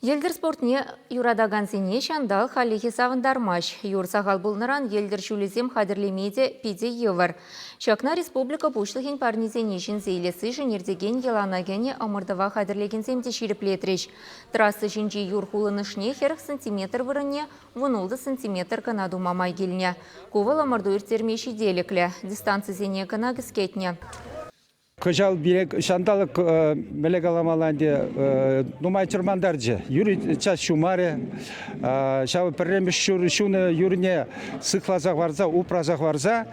Йӗлтӗр спортне юратакансене ҫанталӑк хальлӗхе савӑнтармасть. Юр сахал пулнӑран йӗлтӗр ҫулӗсем хатӗрлеме те питӗ йывӑр. Ҫакна республика Пуҫлӑхӗн парнисене ҫӗнсе илессишӗн иртекен йӑлана кӗнӗ ӑмӑртӑва хатӗрлекенсем те ҫирӗплетрӗҫ. Трасса ҫинчи юр хулӑнӑшне хӗрӗх сантиметр вырӑнне вунултӑ сантиметр кӑна тума май килнӗ. Ку вӑл ӑмӑрту ирттерме ҫителӗклӗ. Дистанцисене кӑна кӗскетнӗ. Кӑҫал пире ҫанталӑк, мӗле каламалла ӗнтӗ, нумай чӑрмантарчӗ. Юрий час ҫумарӗ. Ҫавӑ пӗрремӗш ҫур ҫунӑ юрне сыхласа хӑварса, упраса хӑварса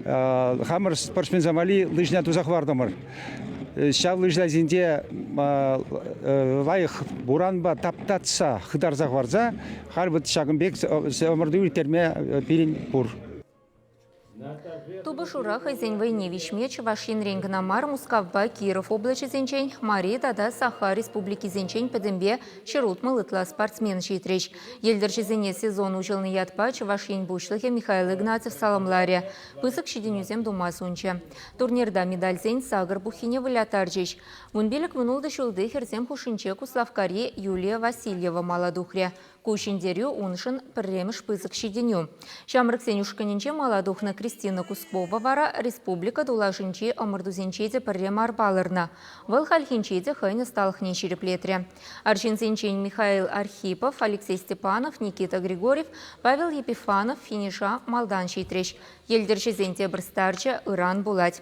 хамӑр спортсменсем валли лыжна туса хӑвартӑмӑр. Ҫав лыжна ҫинче лайӑх буранпа таптатса хытарса хӑварса халь ҫакӑн пек ӑмӑрту ирттерме пирӗн пур. Тупӑшура хӑйсен вӑйне виҫме Чӑваш Енрен кӑна мар, Мускавпа Киров облаҫӗсенчен, Мари тата Саха республикисенчен пӗтӗмпе ҫӗрутмӑл ытла спортсмен ҫитрӗҫ. Йӗлтӗрҫӗсене сезон уҫӑлнӑ ятпа Чӑваш Ен Пуҫлӑхӗ Михаил Игнатьев саламларӗ, пысӑк ҫитӗнӳсем тума сунчӗ. Турнирта медальсен сакӑр пуххине вылятарчӗҫ. Вун пилӗк вунултӑ ҫулти хӗрсем хушшинче Куславккари Юлия Васильева мала тухрӗ. Ку ҫӗнтерӳ уншӑн пӗрремӗш пысӑк ҫитӗнӳ. Ҫамрӑксен ушкӑнӗнче мала тухнӑ Кристина Кускова вара республика тулашӗнчи ӑмӑртусенче те пӗрре мар палӑрнӑ. Вӑл хальхинче те хӑйӗн ӑсталӑхне ҫирӗплетрӗ. Арҫынсенчен Михаил Архипов, Алексей Степанов, Никита Григорьев, Павел Епифанов финиша малтан ҫитрӗҫ. Йӗлтӗрҫӗсен тепӗр старчӗ ыран пулать.